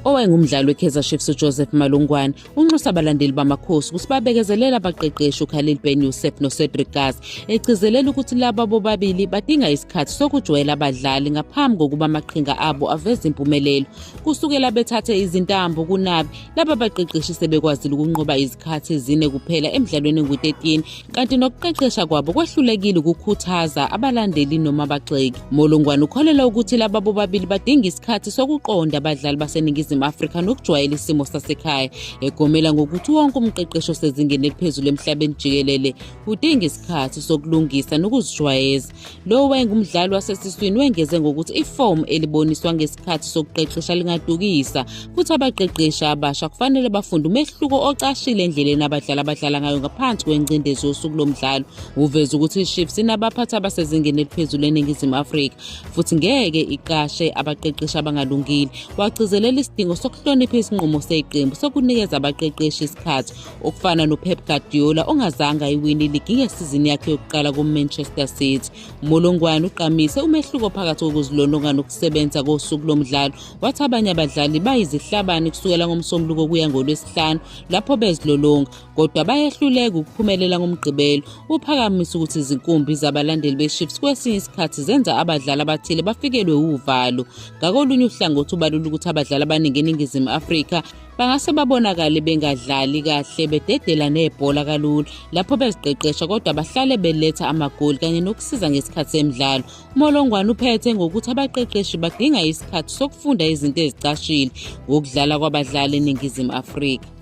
owayengumdlali we-kaizer chiefs ujoseph malungwane unxusa abalandeli bamakhosi ukuthi babekezelele abaqeqeshi ukhalil ben yusef nocedric gas egcizelela ukuthi laba bobabili badinga isikhathi sokujwayela abadlali ngaphambi kokuba amaqhinga abo aveze impumelelo kusukela bethathe izintambo kunabi laba baqeqeshi sebekwazile ukunqoba izikhathi ezine kuphela emdlalweni engu-13 kanti nokuqeqesha kwabo kwehlulekile ukukhuthaza abalandeli noma abagxeki molongwane ukholelwa ukuthi laba bobabili badinga isikhathi sokuqonda abadlali baseningizimu afrika nokujwayela isimo sasekhaya egomela ngokuthi wonke umqeqeshi osezingeni eliphezulu emhlabeni jikelele udinga isikhathi sokulungisa nokuzijwayeza Lo wayengumdlali wasesiswini wengeze ngokuthi ifomu eliboniswa ngesikhathi sokuqeqesha lingadukisa futhi abaqeqeshi abasha kufanele bafunde umehluko ocashile endleleni abadlali abadlala ngayo ngaphansi kwengcindezi yosuku lomdlalo. Uveze ukuthi iChiefs inabaphathi abasezingeni eliphezulu eNingizimu Afrika futhi ngeke iqashe abaqeqeshi abangalungile. Wagcizelela isidingo sokuhlonipha isinqumo seqembu sokunikeza abaqeqeshi isikhathi Ukufana noPep Guardiola ongazange ayiwini iligi ngesizini yakhe yokuqala kuManchester City, uMolongwane ugqamise umehluko phakathi kokuzilolonga nokusebenza kosuku lomdlalo, wathi abanye abadlali bayizihlabani kusukela ngoMsombuluko kuya ngoLwesihlanu lapho bezilolonga, kodwa bayehluleka ukuphumelela ngoMgqibelo. Uphakamisa ukuthi izinkumbi zabalandeli beChiefs kwesinye isikhathi zenza abadlali abathile bafikelwe wuvalo. Ngakolunye uhlangothi ubalula ukuthi abadlali abaningi eNingizimu Afrika bangase babonakale bengadlali kahle bededela nebhola kalula lapho beziqeqesha kodwa bahlale beletha amagoli kanye nokusiza ngesikhathi semidlalo umolongwane uphethe ngokuthi abaqeqeshi badinga isikhathi sokufunda izinto ezicashile ngokudlala kwabadlali eningizimu afrika